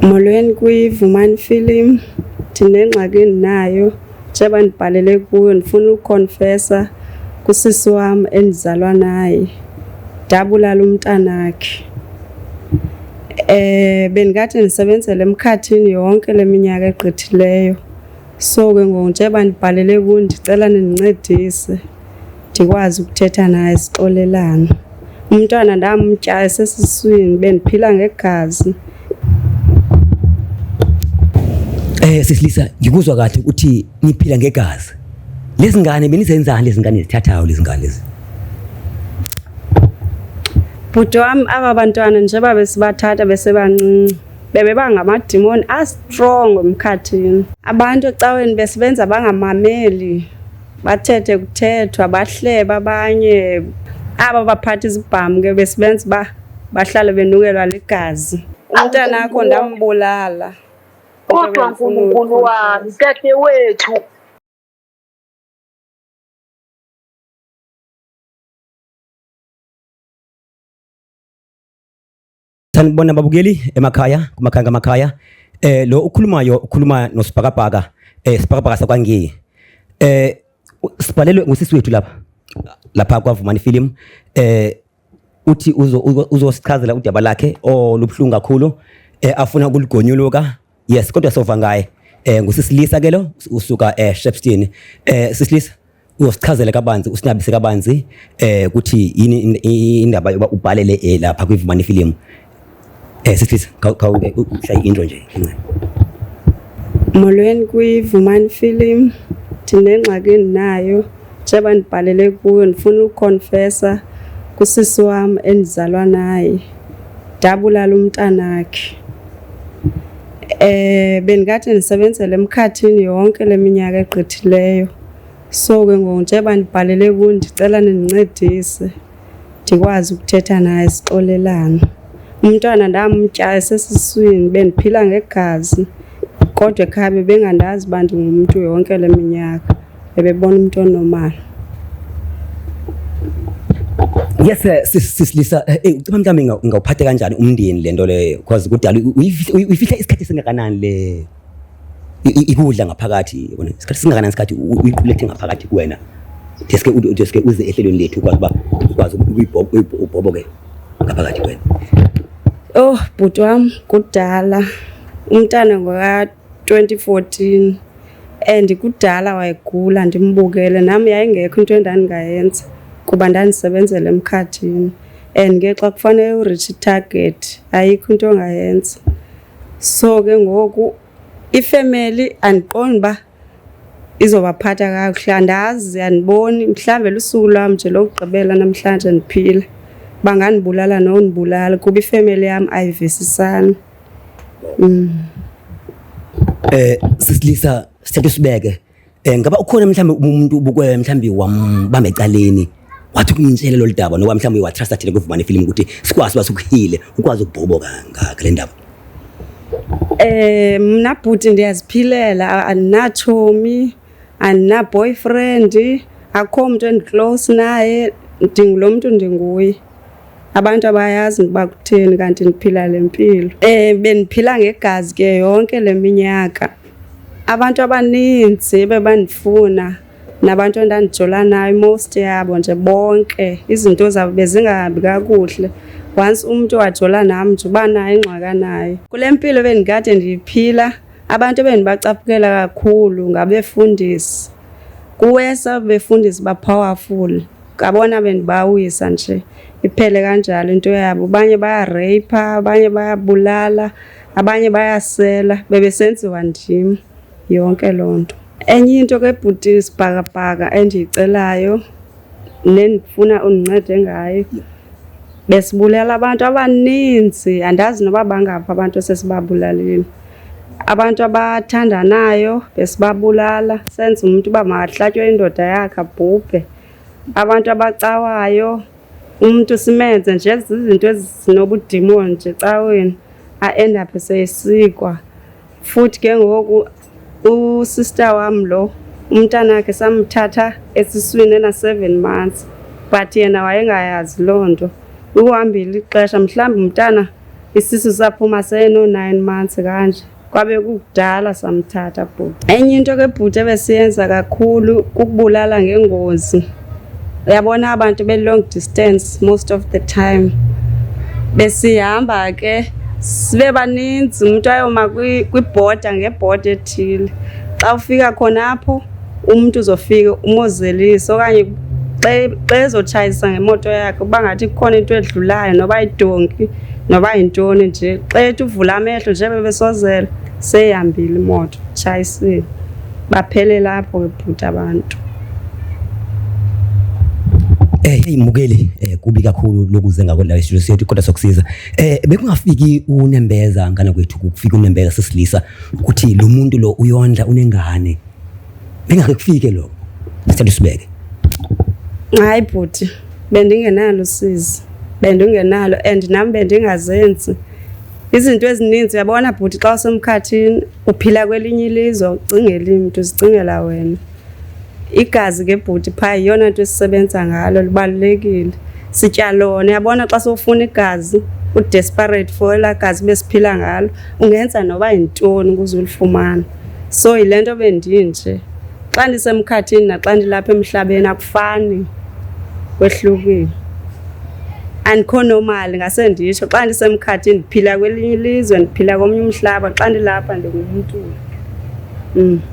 Molweni kwiVumani Film. Ndinengxaki endinayo njeba ndibhalele kuyo ndifuna ukonfesa kusisi wam endizalwa naye ndabulala umntanakhe. Eh bendikade ndisebenzela emkhathini yonke le minyaka egqithileyo. So ke ngoku njeba ndibhalele kuyo ndicela nindincedise. ndikwazi ukuthetha naye sixolelana. Umntwana ndamtya esesiswini bendiphila ngegazi. Eh sisilisa ngikuzwa kahle ukuthi niphila ngegazi. Lezi ngane benizenzani lezi ngane zithathayo lezi ngane lezi? Bhuti wami aba bantwana njengoba besibathatha besebancinci bebe bangamadimoni astrong emkhathini. Abantu ecaweni besebenza bangamameli. bathethe kuthethwa bahleba abanye aba baphatha izibhamu ke besibenza uba bahlale benukelwa ligazi umntana akho ndambulala kodwa nkulunkulu wami tete wethu sanibona babukeli emakhaya kumakhaya ngamakhaya eh lo ukhulumayo ukhuluma nosibhakabhaka eh sibhakabhaka sakwangiye eh sibhalelwe ngusisi wethu lapha lapha kwavumani film eh uthi uzosichazela udaba lakhe olubuhlungu kakhulu eh afuna ukuligonyuluka yes kodwa sova ngaye eh ngusisilisa ke lo usuka eh Shepstone eh sisilisa uyosichazela kabanzi usinabise kabanzi eh ukuthi yini in- i- indaba yoba ubhalele eh, lapha kwivumani film eh sisilisa khawushaya intro nje incane Molweni kwiVumani Film. Ndinengxaki endinayo. njengoba ndibhalele kuyo ndifuna ukonfesa kusisi wam endizalwa naye ndabulala umntanakhe eh bendikade ndisebenzele emkhathini yonke leminyaka egqithileyo so ke ngoku njengoba ndibhalele kuyo ndicela nindincedise ndikwazi ukuthetha naye sixolelana. Umntwana ndamtya esesiswini bendiphila ngegazi kodwa ekhaya bebengandazi uba ndingumntu yonke le minyaka bebebona umntu onomali yes eh, sisilisa eh, eh, ucima mhlawumbi ingawuphathe kanjani umndeni le nto leyo because kudala uyifihle isikhathi esingakanani leyo ikudla ngaphakathi yona isikhathi singakanani isikhathi uyiqulethe ngaphakathi kuwena deske deske uze ehlelweni lethu ukwazi uba ukwazi ubhoboke ngaphakathi kuwena oh bhuti wam kudala umntana ngoka-2014 and kudala wayegula ndimbukele nam yayingekho into endandingayenza kuba ndandisebenzela emkhathini and ke xa kufanele urithi itarget ayikho into ongayenza so ke ngoku ifemeli andiqondi uba izobaphatha kakuhle andazi andiboni mhlawumbe lusuku lwam nje lokugqibela namhlanje ndiphile bangandibulala nondibulala kuba ifemeli yam ayivisisani um eh sisilisa sithethe sibeke Um ngaba ukhona mhlawumbi umuntu ubukwela mhlawumbi wambamba ecaleni wathi ukumtshele lolu daba noba mhlawumbi watrusta thina kuvumane ifilimu ukuthi sikwazi uba sikuhile ukwazi ukubhobo ngale ndaba Eh mna bhuti ndiyaziphilela andinatshomi andinaboyfriend akho mntu endiclose naye ndingulo mntu ndinguye abantu abayazi ukuba kutheni kanti ndiphila le mpilo um bendiphila ngegazi ke yonke le minyaka abantu abaninzi bebandifuna nabantu endandijola nayo most yabo nje bonke izinto zabo bezingahambi kakuhle once umntu wajola nam nje uba nayo ingxaka nayo kule mpilo bendikade ndiyiphila abantu ebendibacaphukela kakhulu ngabefundisi kuwesa befundisi bapowerful Ngabona bendibawisa nje iphele kanjalo into yabo. Abanye bayareyipha, abanye bayabulala, abanye bayasela. Bebesenziwa ndim yonke loo nto. Enye into ke bhuti sibhakabhaka endiyicelayo nendifuna undincede ngayo besibulala abantu abaninzi andazi noba bangaphi abantu esesibabulalile abantu abathandanayo besibabulala senza umntu uba makahlatywe indoda yakhe abhubhe Abantu abacawayo umntu simenze nje zizinto ezinobudimoni nje caweni aendaphe seyesikwa futhi ke ngoku usister wam lo umntana wakhe samthatha esiswini ena-seven months but yena wayengayazi loo nto ukuhambile ixesha mhlawumbi umntana isisu saphuma seno-nine months kanje kwabe kukudala samthatha bhuti. Enye into ke bhuti ebesiyenza kakhulu kukubulala ngengozi. Uyabona abantu be long distance most of the time. Besihamba ke sibe baninzi umuntu ayoma kwibhoda ngebhoda ethile. Xa ufika khona apho Umntu uzofika umozelise okanye xa ezotshayisa ngemoto yakhe uba ngathi kukhona into edlulayo noba yidonki noba yintoni nje xa ethi uvula amehlo njebe besozela seyihambile imoto tshayisile baphelela apho ke bhuti abantu Eh hey Mugeli eh kubi kakhulu lokuze ngako la studio sethu kodwa sokusiza. Eh bekungafiki unembeza ngana kwethu kufika unembeza sesilisa ukuthi lo muntu lo uyondla unengane bengake kufike lokho sicela usibeke hayi bhuti bendingenalo sizi bendingenalo and nam bendingazenzi izinto ezininzi uyabona bhuti xa usemkhathini uphila kwelinye ilizwe ucingeli mntu uzicingela wena Igazi ke bhuti phaa yiyona nto esisebenza ngalo libalulekile. Sitya lona, uyabona xa sowufuna igazi u-desperate for elaa gazi besiphila ngalo ungenza noba yintoni ukuze ulifumane. So yile nto bendinje, xa ndisemkhathini naxa ndilapha emhlabeni akufani, kwehlukile. Andikho normal ngase nditsho, xa ndisemkhathini ndiphila kwelinye ilizwe ndiphila komnye umhlaba xa ndilapha ndingumntu.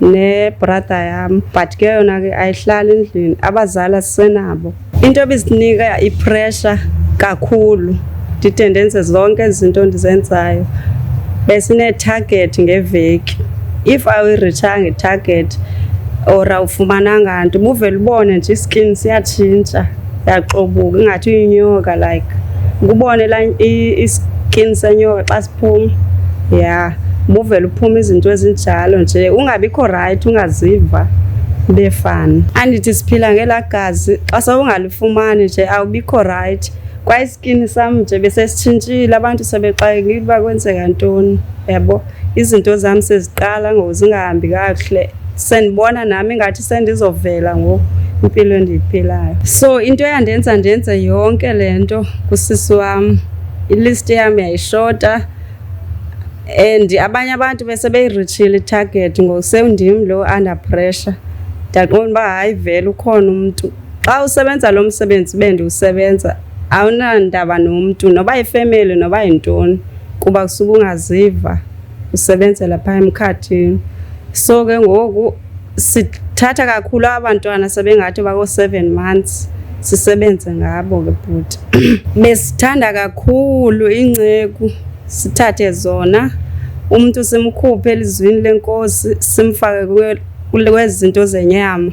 nebrada yam but ke yona ke ayihlali endlini abazali asisenabo into ebisinika ipressure kakhulu ndide ndenze zonke izinto ndizenzayo besinee-target ngeveki if awuyirithanga i-target or awufumananga nto ubuvele ubone nje iskin siyatshintsha yaxobuka ingathi uyinyoka like ukubone iskin senyoka xa phum ya buvele uphuma izinto ezinjalo nje ungabikho rayithi ungaziva befani andithi siphila ngelaa gazi xa sewungalifumani nje awubikho rayithi kwaye isikini sam nje besesitshintshile abantu sebexakekile uba kwenzeka ntoni yabo izinto zam seziqala ngoku zingahambi kakuhle sendibona nam ingathi sendizovela ngoku impilo endiyiphilayo so into eyandenza ndenze yonke le nto kusisi wam ilist yam yayishota and abanye abantu bese beyiritshile itarget ngoku sewundim lo under pressure ndaqonda uba hayi vele ukhona umntu xa usebenza lo msebenzi ube ndiwusebenza awunandaba nomntu noba yifemeli noba yintoni kuba kusuke ungaziva usebenzela phaa emkhathini so ke ngoku sithatha kakhulu abantwana sebengathi bako-seven months sisebenze ngabo ke bhuti besithanda kakhulu inceku sithathe zona umntu simkhuphe elizwini lenkosi simfake kwezinto zenyama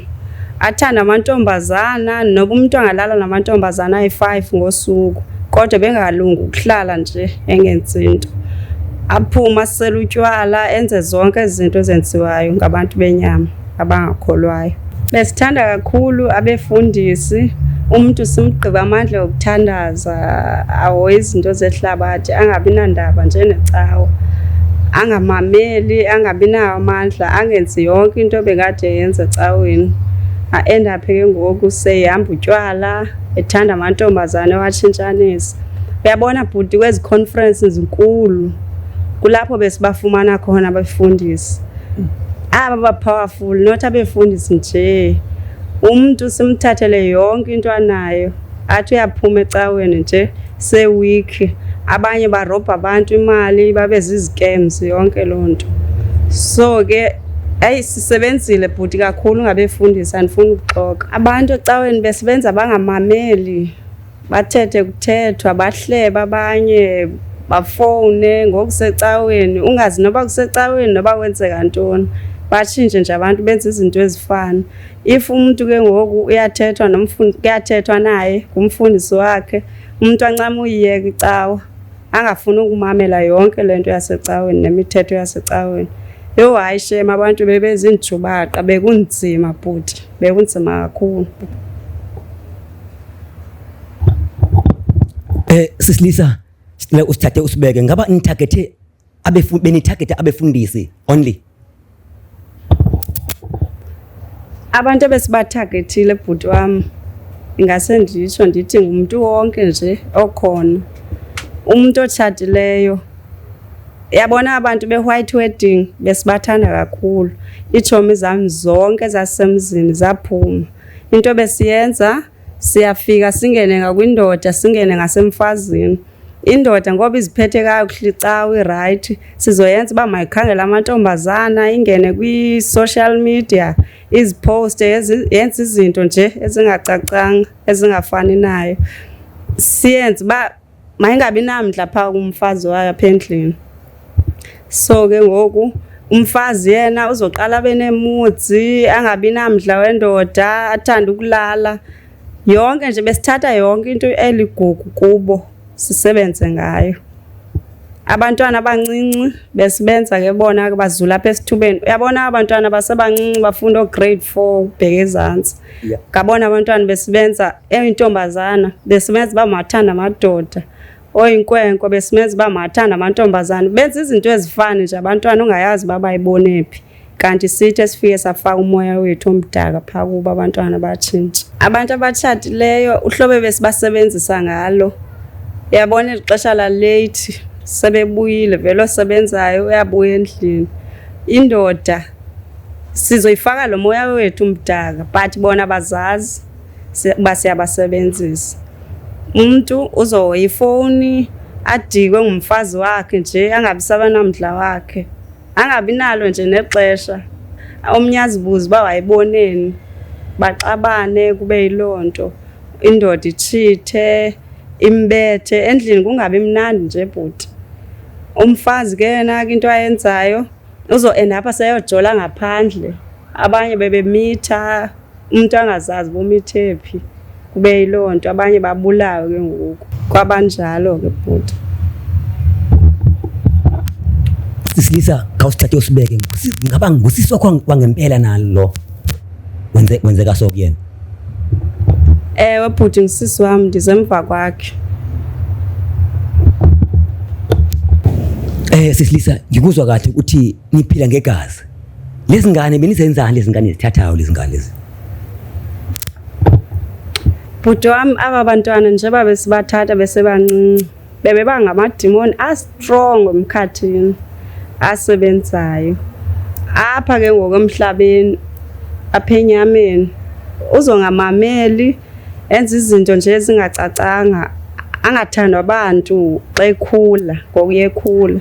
athanda amantombazana noba umntu angalala namantombazana ayi-five ngosuku kodwa bengalungi ukuhlala nje engenzi nto aphume asele utywala enze zonke izinto ezenziwayo ngabantu benyama abangakholwayo besithanda kakhulu abefundisi umntu simgqiba amandla okuthandaza ahoye izinto zehlabathi angabi nandaba njenecawa angamameli angabi nawo amandla angenzi yonke into bekade yenza ecaweni aendaphe ke ngoku seyihamba utywala ethanda amantombazane watshintshanisa uyabona bhuti kwezi conference zinkulu kulapho besibafumana khona abafundisi aba ba-powerful not abefundisi nje umntu simthathele yonke into anayo athi uyaphuma ecaweni nje sewikhi abanye barobha abantu imali babe zizikems yonke loo nto so ke eyi sisebenzile bhuti kakhulu ngabefundisi andifuni ukuxoka abantu ecaweni besebenza bangamameli bathethe kuthethwa bahlebe abanye bafowune ngokusecaweni ungazi noba kusecaweni noba kwenzeka ntoni batshintshe nje abantu benza izinto ezifana if umntu ke ngoku uyathethwa kuyathethwa naye ngumfundisi wakhe umntu ancama uyiyeka icawa angafuni ukumamela yonke le nto yasecaweni nemithetho yasecaweni yho hayi shem abantu bebezinjubaqa bekunzima bhuti bekunzima kakhulu um sisilisa sicela usithathe usibeke ngaba nithagethe abefu benitargeta abefundisi only abantu ebesibathagethile bhuti wam ingase nditsho ndithi ngumntu wonke nje okhona umntu otshatileyo yabona abantu be-white wedding besibathanda kakhulu iitshomi zam zonke ezasemzini zaphuma into besiyenza siyafika singene ngakwindoda singene ngasemfazini Indoda ngoba iziphethe kakuhle cawu irayithi sizoyenza uba mayikhangele amantombazana ingene kwi-social media izipowuste yenze izinto nje ezingacacanga ezingafani nayo siyenze uba mayingabi namdla phaa kumfazi wayo apha endlini so ke ngoku umfazi yena uzoqala abe neemudzi angabi namdla wendoda athande ukulala Yonke nje besithatha yonke into eligugu kubo sisebenze ngayo. Abantwana abancinci besibenza ke bona ke bazula apha esithubeni. Uyabona abantwana basebancinci bafunda grade 4 bheke ezantsi. Yeah. Ngabona abantwana besibenza eyintombazana besibenza bamathanda amadoda. oyinkwenkwe besimenza uba mathanda amantombazana benza izinto ezifani nje abantwana ungayazi uba bayibonephi kanti sithi esifike safaka umoya wethu omdaka phaa kuba abantwana batshintshe abantu abatshatileyo uhlobo besibasebenzisa ngalo yabona eli xesha laleyithi sebebuyile vele osebenzayo uyabuya endlini indoda sizoyifaka lo moya wethu mdaka but bona bazazi uba siyabasebenzisa umntu uzohoya ifowuni adikwe ngumfazi wakhe nje angabi sabanamdla wakhe angabi nalo nje nexesha omnye azibuze uba wayiboneni baxabane kube yiloo nto indoda itshithe imbethe endlini kungabi mnandi nje bhuti umfazi ke yena ke into ayenzayo uzoenda apha seyojola ngaphandle abanye bebemitha umntu angazazi bomithe phi kube yiloo nto abanye babulawe ke ngoku kwabanjalo ke bhuti sisilisa khawusithathe usibeke ngaba ngusisi wakho wangempela nalo wenze wenzeka so kuyena ewe bhuti ngusisi wam ndizemva kwakhe eh sisilisa ngikuzwa kahle ukuthi niphila ngegazi. Lezi ngane benizenzani lezi ngane zithathayo lezi ngane lezi? Bhuti wami aba bantwana njengoba besibathatha besebancinci bebe bangamadimoni astrong emkhathini asebenzayo apha ke ngoku emhlabeni apha enyameni uzongamameli enza izinto nje ezingacacanga angathandwa abantu xa ekhula ngoku yekhula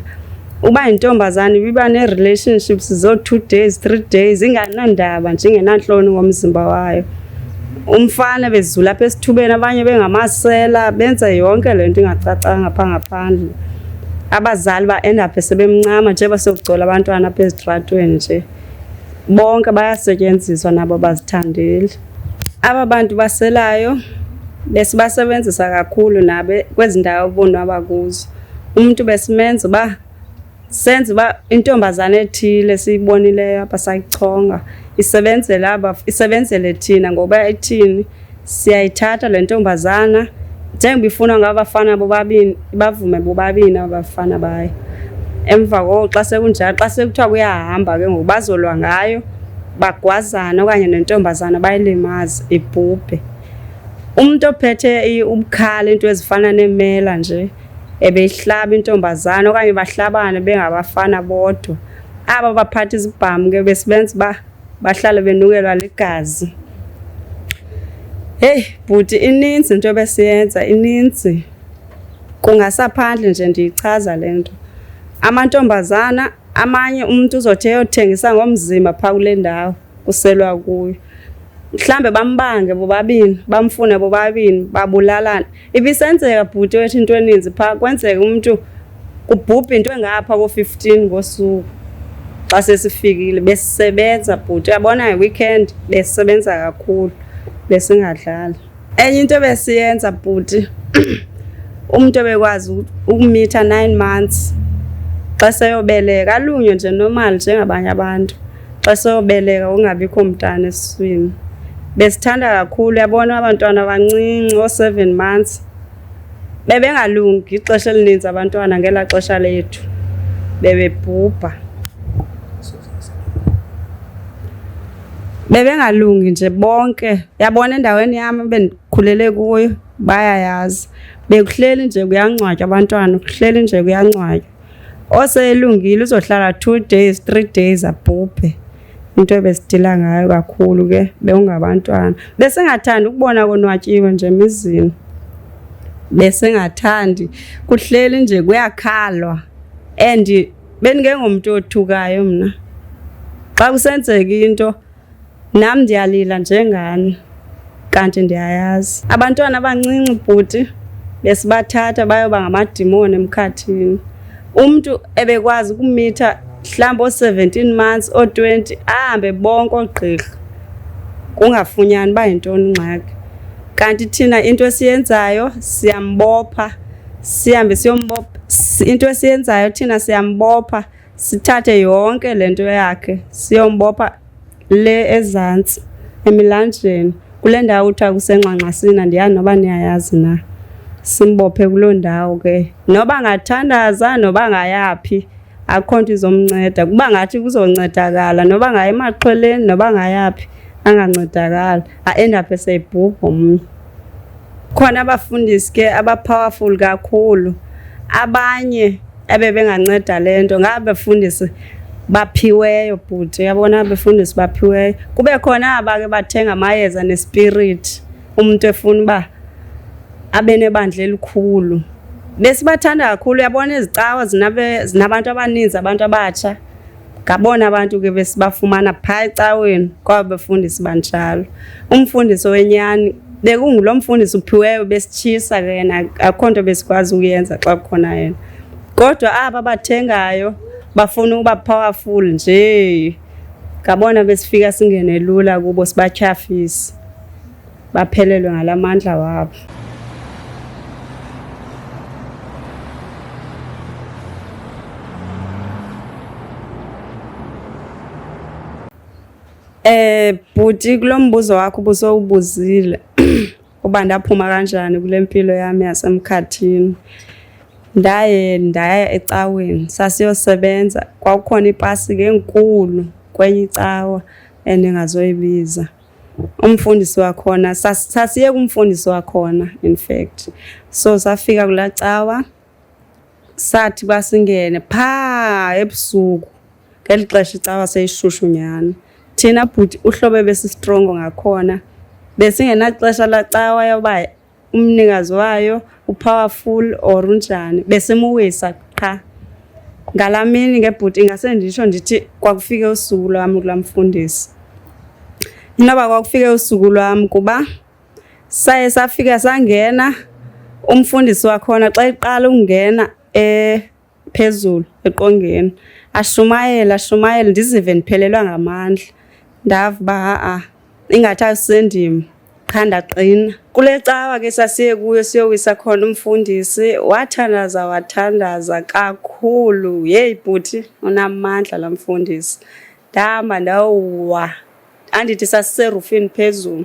uba yintombazane ibiba nee-relationships zoo-two days three days inganandaba nje ingenantloni ngomzimba wayo umfana bezula apha esithubeni abanye bengamasela benza yonke le nto ingacacanga phaa ngaphandle abazali ba-endaphe sebemncama nje basokugcola abantwana apha ezitratweni nje bonke bayasetyenziswa nabo bazithandeli Aba bantu baselayo besibasebenzisa kakhulu nabe kwezi ndawo bonwaba kuzo. Umntu besimenza uba senze uba intombazana ethile siyibonileyo apha sayichonga isebenzela aba isebenzele thina ngoba ithini siyayithatha le ntombazana njengoba ifunwa ngabafana bobabini. Bavume bobabini abafana bayo. Emva koko xa sekunjalo xa sekuthiwa kuyahamba ke ngoku bazolwa ngayo bagwazana okanye nentombazana bayilimaze ibhubhe. Umntu ophethe ubukhala into ezifana neemela nje ebeyihlaba intombazana okanye bahlabane bengabafana bodwa. Aba baphatha izibhamu ke besibenza uba bahlale benukelwa ligazi. Heyi bhuti ininzi into ebesiyenza ininzi. Kungasaphandle nje ndiyichaza le nto. Amantombazana amanye umntu uzothi eyothengisa ngomzimba phaa kule ndawo kuselwa kuyo. Mhlawumbe bambange bobabini, bamfune bobabini, babulalane. Ibisenzeka bhuti wethu into eninzi phaa, kwenzeka umntu kubhubha into engapha koo-fifteen ngosuku xa sesifikile. Besisebenza bhuti, uyabona nge-weekend besisebenza kakhulu, besingadlali. enye into ebesiyenza bhuti umntu ebekwazi ukumitha nine months xa seyobeleka alunywe nje normal njengabanye abantu xa seyobeleka ungabikho mntana esiswini besithanda kakhulu yabona abantwana abancinci oo-seven months bebengalungi ixesha elininzi abantwana ngelaa xesha lethu bebebhubha bebengalungi nje bonke yabona endaweni yam ebendikhulele kuyo bayayazi bekuhleli nje kuyangcwatywa abantwana kuhleli nje kuyangcwatywa oselungile uzohlala two days three days abhubhe into ebesidila ngayo kakhulu ke bewungabantwana besingathandi ukubona konwatyiwe nje emizini besingathandi kuhleli nje kuyakhalwa and Bendingengomntu othukayo mna. Xa kusenzeka into nam ndiyalila njengani kanti ndiyayazi. Abantwana abancinci bhuti besibathatha bayoba ngamadimoni emkhathini. Umntu ebekwazi ukumitha mhlawumbi oo-seventeen months oo-twenty ahambe bonke oogqirha kungafunyani uba yintoni ingxaki. Kanti thina into esiyenzayo siyambopha. sihambe siyombopha into esiyenzayo thina siyambopha sithathe yonke le nto yakhe siyombopha le ezantsi emilanjeni kule ndawo kuthiwa kusenxanxasini andiyazi noba niyayazi na simbophe kuloo ndawo ke noba ngathandaza noba ngayaphi akho nto izomnceda kuba ngathi kuzoncedakala noba ngaya emaxhweleni noba ngayaphi angancedakala aendaphe seyibhubha omnye khona abafundisi ke abapowerful kakhulu abanye ebebenganceda le nto ngaba befundisi baphiweyo bhuti uyabona befundisi baphiweyo kube khona abake bathenga amayeza nespiriti umntu efuna uba abenebandla elikhulu besibathanda kakhulu uyabona ezicawa zinabantu abaninzi abantu abatsha ngabona abantu ke besibafumana phaa ecaweni kwaba befundisi banjalo umfundisi wenyani bekungulo mfundisi uphiweyo besitshisa ke yena akukho nto besikwazi ukuyenza xa kukhona yena kodwa aba bathengayo bafuna ukuba powerful nje ngabona besifika singene lula kubo sibatyhafisa baphelelwe ngala mandla wabo Eh bhuti kulombuzo wakho busowubuzile uba ndaphuma kanjani kule mpilo yami yasemkhathini ndaye ndaya ecaweni sasiyosebenza kwakukhona ipasi ke enkulu kwenye icawa endingazoyibiza umfundisi wakhona sasiye kumfundisi wakhona in fact so safika kulaa cawa sathi basingene phaa ebusuku ngeli xesha icawa seyishushu nyhani thina bhuti uhlobo ebesistrongo ngakhona besingenaxesha lacawa yoba umnikazi wayo upowerful or unjani besemuwisa qha ngalaa mini ngebhuti ingase nditsho ndithi kwakufike usuku lwam kulaa mfundisi inoba kwakufike usuku lwam kuba saye safika sangena umfundisi wakhona xa iqala ukungena um phezulu eqongeni ashumayele ashumayele ndizive ndiphelelwa ngamandla ndava uba ha-a ingathi asendim qha ndaqina kule cawa ke sasiye kuyo siyowisa khona umfundisi wathandaza wathandaza kakhulu yeyi bhuti unamandla la mfundisi ndahamba ndawuwa andithi sasiserufini phezulu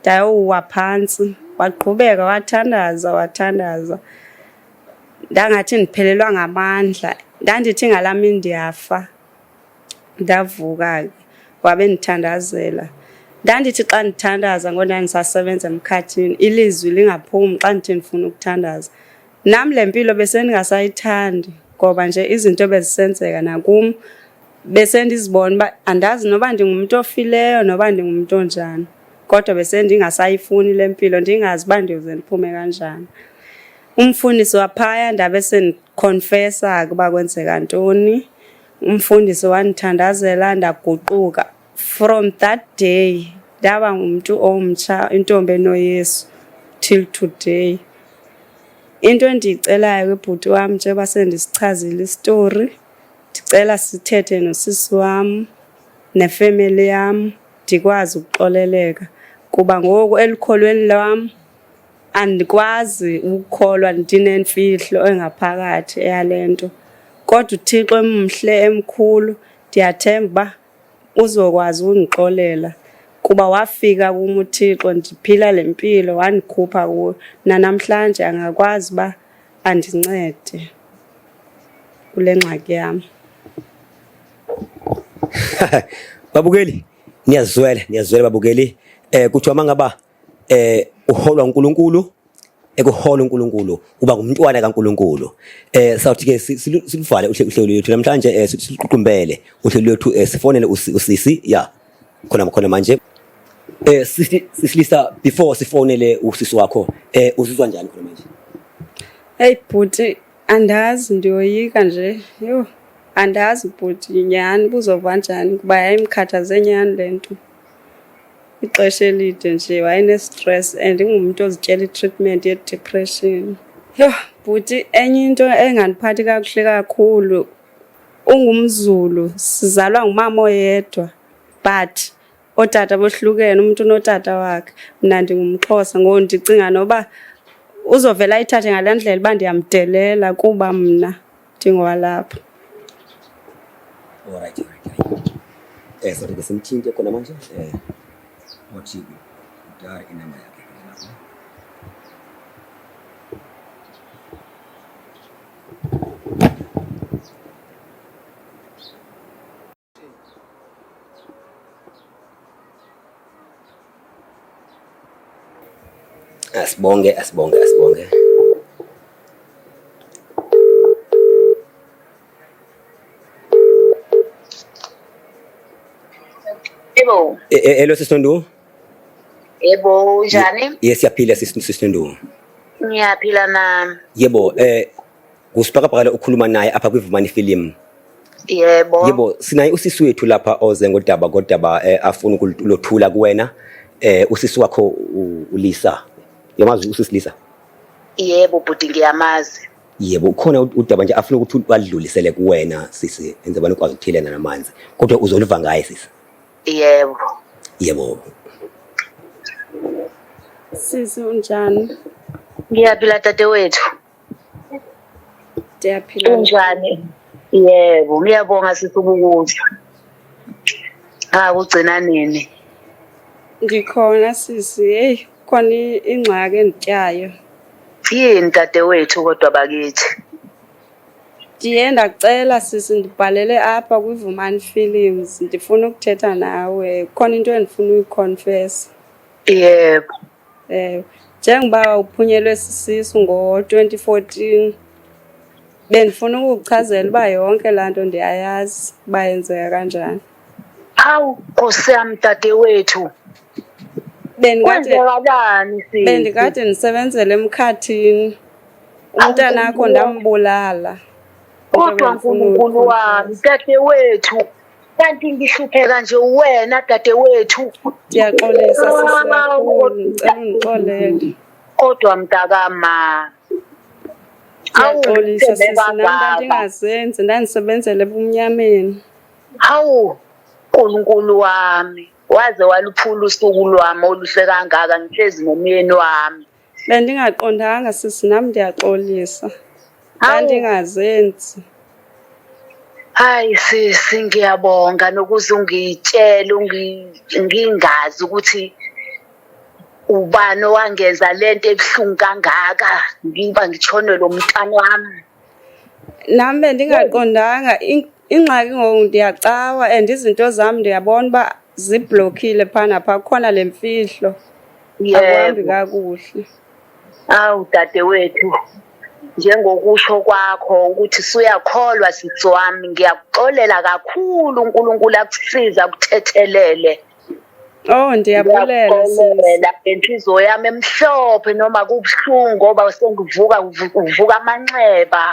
ndayowuwa phantsi waqhubeka wathandaza wathandaza Ndangathi ndiphelelwa ngamandla, ndandithi ngala mini ndiyafa. Ndavuka ke wabe ndithandazela. Ndandithi xa ndithandaza ngoku ndandisasebenza emkhathini ilizwi lingaphumi xa ndithi ndifuna ukuthandaza. Nam le mpilo besendingasayithandi ngoba nje izinto bezisenzeka nakum besendizibona uba andazi noba ndingumntu ofileyo noba ndingumntu onjani kodwa besendingasayifuni le mpilo ndingazi uba ndiyoze ndiphume kanjani. Umfundisi waphaya ndabe sendikhonfesa ukuba kwenzeka ntoni. Umfundisi wandithandazela ndaguquka. From that day ndaba ngumntu omtsha intombi enoyesu till today into endiyicelayo kwibhuti wam njengoba sendisichazile isitori ndicela sithethe nosisi wam nefemeli yam ndikwazi ukuxoleleka kuba ngoku elikholweni lwam Andikwazi ukukholwa ndinemfihlo engaphakathi eyale nto, kodwa uThixo emhle emkhulu ndiyathemba uba uzokwazi ukundixolela kuba wafika kum uThixo ndiphila le mpilo wandikhupha kuyo. Nanamhlanje angakwazi uba andincede kule ngxaki yam. Babukeli, niyazizwela, niyazizwela babukeli. Eh kuthiwa mangaba eh uholwa uNkulunkulu ekuhola uNkulunkulu uba ngumntwana kaNkulunkulu eh sawuthi ke siluvale uhlelo lwethu namhlanje eh, siququmbele uhlelo lwethu eh, sifonele usisi ya khona khona manje eh sisilisa before sifonele usisi wakho eh uzizwa njani khona manje hey bhuti andazi ndiyoyika nje yho andazi bhuti nyhani buzova njani kuba yayimkhathaze nyhani le nto ixesha elide nje wayenestress and ingumntu ozityela itreatment yedepression yho bhuti enye into engandiphathi kakuhle kakhulu ungumzulu sizalwa ngumama oyedwa but ootata bohlukene umntu unotata wakhe mna ndingumxhosa ngoku ndicinga noba uzovela ayithathe ngale ndlela uba ndiyamdelela kuba mna ndingowalapha. Alright, alright, alright. Eh, so ndike simthinte khona manje. Eh. Wathi udare inamba yakhe lapho. Asibonge, asibonge, asibonge. Hello. Eh, eh, hello Sister Ndu. Yebo, unjani? Yes, siyaphila Sister Ndu. Ngiyaphila na. Yebo, eh Ngusibhakabhaka ukhuluma naye apha kwiVumani Film. Yebo. Yebo sinaye usisi wethu lapha oze ngodaba kodaba eh, afuna ukulothula kuwena eh usisi wakho uLisa. Yamazi usisi Lisa? Yebo bhuti ngiyamazi. Yebo ukhona udaba nje afuna ukuthi badlulisele kuwena sisi enze abantu kwazi ukuthelena namanzi kodwa uzoliva ngaye sisi. Yebo. Yebo. Sisi unjani? Ngiyaphila dadewethu. ndiyaphila kunjani yebo ngiyabonga sisi ukukuzwa ha kugcina nini ndikhona sisi heyi khona ingxaki endityayo yini dadewethu kodwa bakithi ndiye ndacela sisi ndibhalele apha kwivumani films ndifuna ukuthetha nawe khona into endifuna uyikhonfesa yebo Eh, njengoba uphunyelwe sisisu ngo-2014 bendifuna ukukuchazela uba yonke laa nto ndiyayazi uba yenzeka kanjani awu nkosi yam dadewethu bendikalani bendikade ndisebenzela emkhathini umntana akho ndambulala kodwa nkulunkulu wami dadewethu kanti ngihlupheka nje uwena dadewethu ndiyaxolisa sisiakucela kodwa mntakama ndiyaxolisa sisinamntantingazenzi ndandisebenzela ebumnyameni hawu nkulunkulu wami waze waluphula usuku lwami oluhle kangaka ngihlezi nomyeni wami Bendingaqondanga sisi, nam ndiyaxolisa. Ndandingazenzi. Hayi sisi, ngiyabonga nokuze ungitshele ngingazi ukuthi ubani owangenza le nto ebuhlungu kangaka ngiba ngitshonelwe umntana wami. Nam bendingaqondanga Ingxaki ngoku ndiyacawa and izinto zam ndiyabona uba ziblokhile phana phaa kukhona le mfihlo akuhambi kakuhle awu dade wethu njengokusho kwakho ukuthi suyakholwa sisi wami ngiyakuxolela kakhulu unkulunkulu akusize akuthethelele Oh ndiyabulela sisi. Inhliziyo yami emhlophe noma kubuhlungu ngoba sengivuka uvuka amanxeba.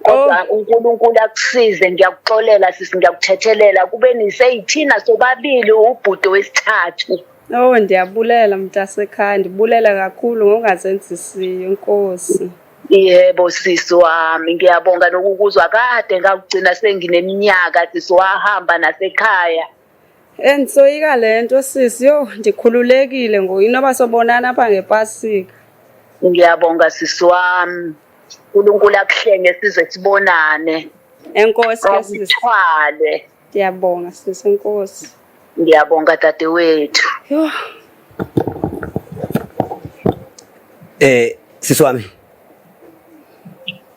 kodwa oh. unkulunkulu akusize ndiyakuxolela sisi ndiyakuthethelela kube niseyithina sobabili ubhudo wesithathu owu oh, ndiyabulela mntasekhaya ndibulela kakhulu ngongazenzisiyo nkosi yebo sisi wami ngiyabonga nokukuzwa kade ngakugcina sengineminyaka sisi wahamba nasekhaya Endisoyika le nto sisi, yho ndikhululekile ngoku inoba sobonana apha ngepasika. Ngiyabonga sisi wami. uNkulunkulu akuhlenge size sibonane. Enkosi ke sisi. Ngithwale. Ndiyabonga sisi enkosi. Ngiyabonga dadewethu. Yho. Eh sisi wami.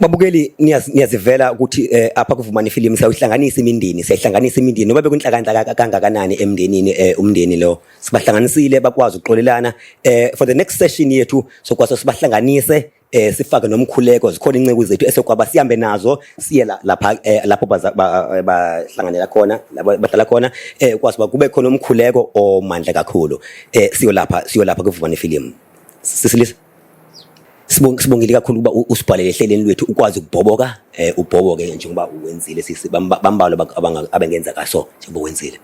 Babukeli niyazivela ukuthi eh, apha kuvumani ifilimu siyawuhlanganisa imindeni siyahlanganisa imindeni noba bekuntlakantla kangakanani emndenini eh, umndeni lo sibahlanganisile bakwazi ukuxolelana eh, for the next session yethu sokwaso sibahlanganise eh, sifake nomkhuleko zikhona inceku zethu esokwaba sihambe nazo siye lapha eh, lapho bahlanganela khona lapho bahlala khona eh, kwazi uba kube khona umkhuleko omandla kakhulu eh, siyolapha siyolapha kuvumani ifilimu sisilisa Sibongile kakhulu ukuba usibhalele ehleleni lwethu ukwazi ukubhoboka eh ubhoboke njengoba uwenzile sisi bambalo abengenza kaso njengoba wenzile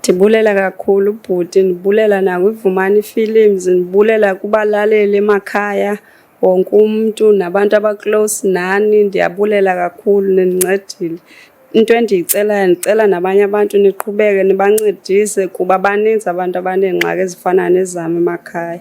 Ndibulela kakhulu bhuti, ndibulela nakwivumani Films, ndibulela kubalaleli emakhaya, wonke umntu nabantu abaclose nani, ndiyabulela kakhulu nindincedile. Into endiyicelayo ndicela nabanye abantu niqhubeke nibancedise kuba baninzi abantu abaneengxaki ezifana nezam emakhaya.